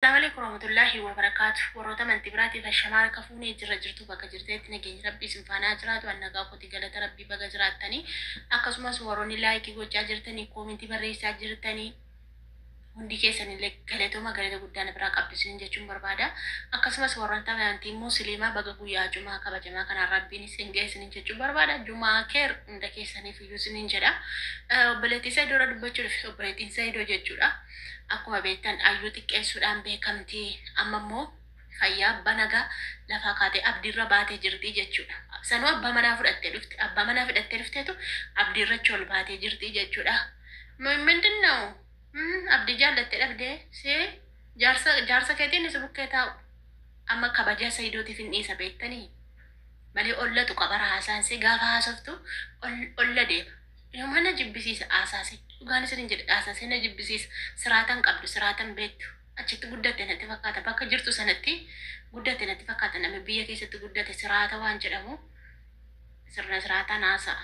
Asalamualeyku waramatulahi wabarakatu warota amanti biratif ashama harka fune jirra jirtu baka jirtanitti nageny rabbi isin fana ha jiratu an naga koti galata rabbi baga jiratani akasumas waroni like gocha jirtani komenti baresa jirtani hundi kesanile galatoma galata gudda na bira qabdu isinin jechun barbada akasumas warota amanti musilima baga guya juma kabajama kana rabbin isin gahe isinin jechun barbada juma kher hunda kesanif iyu isinin jedha obboleti saidora dubbachu dhufe obboletin saido jechudha Akkuma beektan Ayyuu xiqqeessuudhaan beekamti. Amma immoo fayyaa abbaa nagaa lafaa kaatee abdiirra baatee jirti jechuudha. Sanuu abbaa manaa fudhattee dhufte. Abbaa manaa fidhattee dhufteetu abdiirra achi ol baatee jirti jechuudha. Mo- Mindin na'u? Mm, Abdii jaallattee dhabdee? Si jaarsa jaarsa keetiin si bukkee taa'u. Amma kabajaa Saidootiif hin dhiisa beektanii? Malee ollatu qabara haasaan si gaafa haasoftu ol- olla deema. Nama na jibbisiisa Aasaasee. Dhugaan isiniin jedha Aasaasee na jibbisiisa. Siraata hin qabdu, siraata hin beektu. Achitti guddatte natti fakkaata. Bakka jirtu sanatti guddatte natti fakkaata. Namni biyya keessatti guddate siraata waan jedhamu sirna siraataan haasa'a.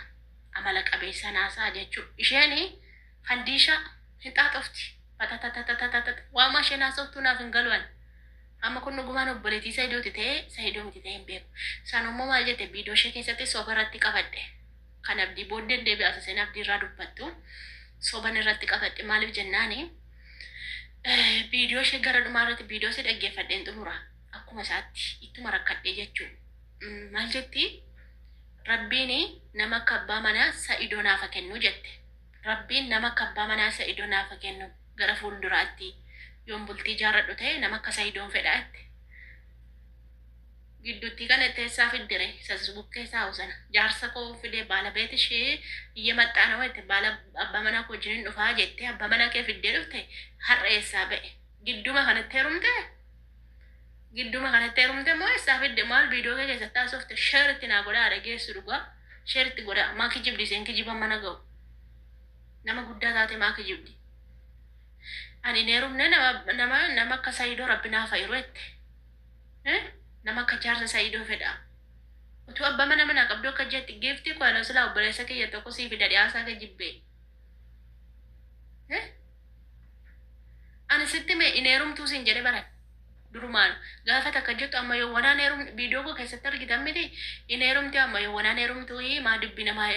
Amala qabeessaan haasa'a jechuu. Isheen fandiishaa hin xaaxofti. Fatatatatatatatat. Waamaa isheen haasoftuu naaf hin galu ani. Amma kun dhugumaan obboleettii Sayidooti ta'ee Sayidoo miti ta'ee hin beeku. Sanummoo maal jette biidoo ishee keessatti soba irratti qabadhe. Kan abdii booddeen deebi'a asaseen abdii irraa dubbattu soban irratti qabadhe maaliif jennaani viidiyoo ishee gara dhumaa irratti viidiyoo ishee dhaggeeffadheen xumura akkuma isaatti ittuma rakkadhee jechuu maal jetti rabbiin nama akka abbaa manaa sa'idoo naafa kennu jette rabbiin nama akka abbaa manaa sa'idoo naafa kennu gara fuulduraatti yoon bultii jaarradhu ta'e nama akka sa'idoon fedha jette Giddutti gala itti essaa fiddere isas bukkee taa'u sana jaarsa koo fidee baala beet ishee iyya maxxaana wayte baala abba mana koo jinin dhufaa jette abba mana kee fiddee dhufte har'a essaa ba'e gidduma kanatti herumte gidduma kanatti herumte moo essaa fidde maal viidoo kee keessatti haasofte sheer itti naa godhaa dhageessu dhugaa sheer itti godhaa maa kijibdi isheen kijiba mana ga'u nama guddaa taate maa kijibdi ani hin herumne nama nama nama akka sayidoo rabbi naa fayiru jette Eh nama akka jaarsa saidoo fedha utuu abba mana manaa qabduu akka jetti giiftii koo anoo silaa obboleessa kiyya tokko sii fida dhiyaasaa kee jibbee Eh ani sitti mee hin heerumtuu siin jedhe bara durumaan gaafa takka jettu amma yoo wanaan heerum viidiyoo koo keessatti argitan miti hin heerumti amma yoo wanaan heerumtuu maa dubbi namaa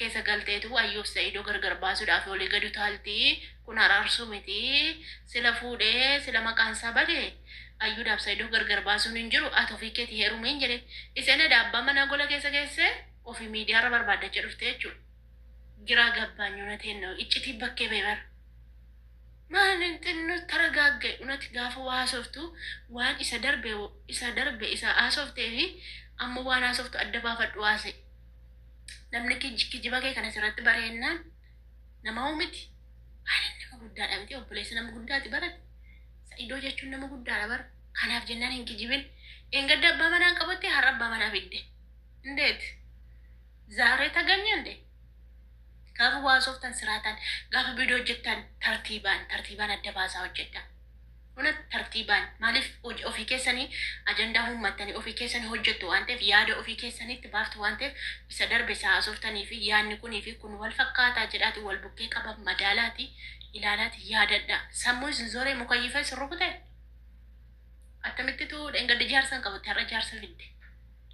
keessa galteetu ayyuuf sa'idoo gargar baasuudhaaf olii gadu taaltii Kun araarsuu miti sila fuudhe sila maqaan isaa bade ayyuudhaaf saidoo gargar baasuun hin jiru ati ofii keeti heerumiin jedhe iseen eda abbaa manaa gola keessa geesse ofii miidiyaa irra barbaaddacha dhufte jechuudha giraa gabbaanyu nateen na'u iccitii bakkee ba'e bara maalin xinnu taragaagge unati gaafa waa haasoftu waan isa darbe isa darbe isa haasoftee fi amma waan haasoftu adda baafadhu haase namni kij- kijiba kee kanas irratti bareennaan Namaa'uu miti. Aanan nama guddaadha miti obboleessa nama guddaati barate. Sa'idoo jechuun nama guddaadha bara. Kanaaf jennaan hin kijibin. Engadda abbaa manaan qabatte har'a abbaa manaa fidde. Indeet. Zaaree taganya indee. Gaafa waasoftan siraataan gaafa viidiyoo hojjettan tartiibaan tartiibaan adda baasaa hojjedha. Huna tartiibaan maaliif hoj ofii keessanii ajandaa uummattanii ofii keessanii hojjettu waan ta'eef yaada ofii keessaniitti baaftu waan ta'eef isa darbe isa haasoftanii fi yaadni kunii fi kun wal fakkaataa jedhaati wal bukkee qaba madaalaati ilaalaati yaadadha sammuu isin zoree mukayyifa isin rukute akkamittitu dheengadda jaarsa hin qabutti har'a jaarsa fidde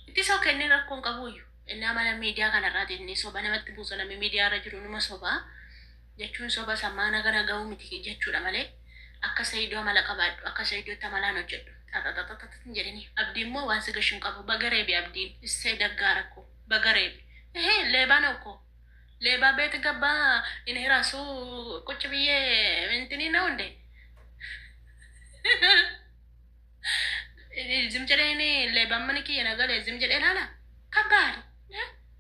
itti soo kennee rakkoo hin qabuuyyu innaa mana miidiyaa kanarraati inni soba namatti buusa namni miidiyaa irra jiru numa sobaa jechuun soba sammaa naga nagahuu miti jechuudha malee akka sayido amala qabaadhu akka sayidotti amalaan hojjedhu xaxaxaxaxax hin jedhini abdii immoo waan si gashu hin qabu baga reebe abdiin issee daggaara koo baga reebe ehe leebaa naw koo leebaa beet gabba in hiraasu qucci biyyee intini naw inde zim jedhee inni leebaan mana kiyya nagalee zim jedhee laala kabbaad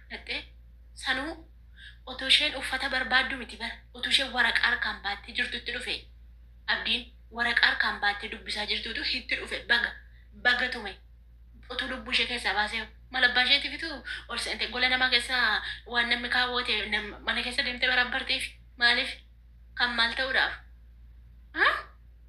Fudhattee? Sanuu otuu isheen uffata barbaaddu miti bar otuu isheen waraqaa harkaan baattee jirtutti dhufe Abdiin waraqaa harkaan baattee dubbisaa jirtuutu hitti dhufe baga baga tume otuu lubbuu ishee keessaa baasee mal abbaa isheetifitu ol seente gola namaa keessa waan namni kaawwate nam- mana keessa deemtee baraabbartiif maaliif kan maal ta'uudhaaf? Haa?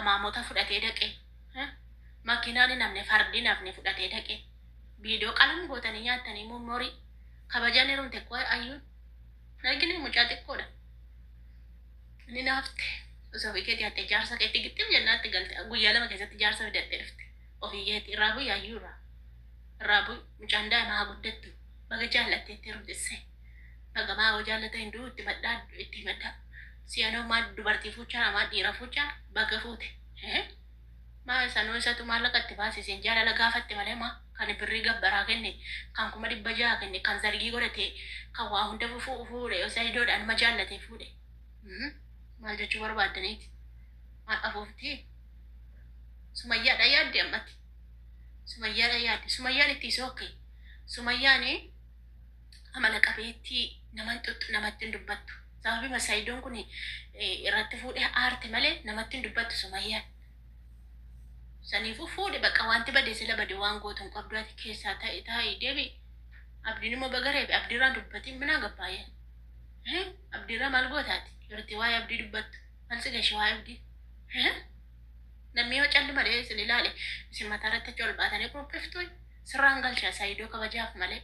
amaamota fudhatee dhaqe makiinaan hin hafne fardi hin hafne fudhatee dhaqe viidiyoo qalam gootanii nyaattanii mummorii kabajaan heerumte koo ayyuun argine mucaa xiqqoodha inni naafte osoo ofii keetii hattee jaarsa keetti gixxim jennaatti galte guyyaa lama keessatti jaarsa fidattee dhufte ofii keetii irraa bu'ii ayyuu irraa irraa bu'ii mucaan daa'ima haa guddattu baga jaallatteetti heerumtisse. Bagamaa hoo jaallata hin du'u itti madhaa itti himadhaa si'anoo maa dubartii fuuchaa maa dhiira fuuchaa baga fuute Hee? maa sanuu isatu maallaqa itti baasi isin jaalala gaafatte malee maa kan birrii gabbaraa kenne kan kuma dhibba jaha kenne kan zargii godhate kan waa hunda fufuu fuudhe sayidoodhaan ma jaallate fuudhe Mhm. maal jechuu barbaaddaniiti maal afuufti sumayyaadha yaadde ammatti sumayyaadha yaadde sumayyaan itti sookke sumayyaani amala qabeettii naman xuxxu namatti hin dubbattu. Sababima Sayidoon kun irratti fuudhee aarte malee namatti hin dubbattu Sumayyaan. Saniifuu fuudhi baqa wanti bade sila bade waan gootu hin qabdu ati keessaa taa'e taa'e deebi. Abdiin immoo baga reebe abdiirraa dubbatiin minaa gabbaayee. Abdiirraa maal gootaati? Yerootti waa'ee abdii dubbattu. Maal si gashe waa'ee abdii? Namni yoo calli malee isin ilaale isin mataa irratti achi ol baatanii qopheeftu. Sirraan galcha saidoo kabajaaf malee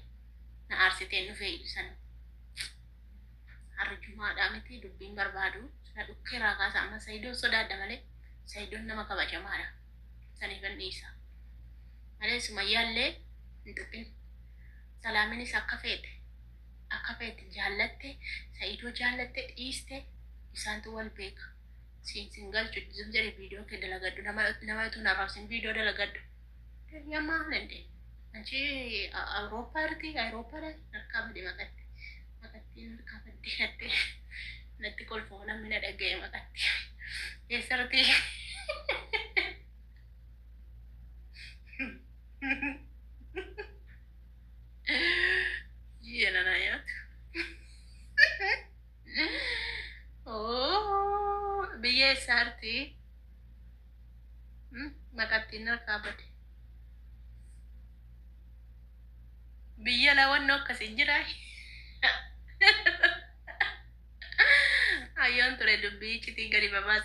na aarsitee hin dhufee ibsan arjumaadhaa miti dubbiin barbaadu na dhukkee irraa kaasa amma saidoon sodaadha malee saidoon nama kabajamaadha saniifan dhiisa malee sumayyaallee hin tuqin salaaminis akka feete akka feete jaallatte saidoo jaallatte dhiiste isaantu wal beeka siin siin galchu zim jedhe viidiyoo kee dalagadhu nama nama utuu hin arrabsin viidiyoo dalagadhu Yammaa kana hin deemu. Achi Awurooppaa irratti Awurooppaa irratti harkaa badee maqatti. Maqattiin harkaa badee natti natti kolfoo namni na dhaga'e maqatti. Eessarratti ji'a nana nyaatu. Oo, biyya eessaarti? Hmm, Maqattiin harkaa bade. Biyya lawannoo akkasii jira. Ayyoon ture dubbii iccitii gadi babaasa.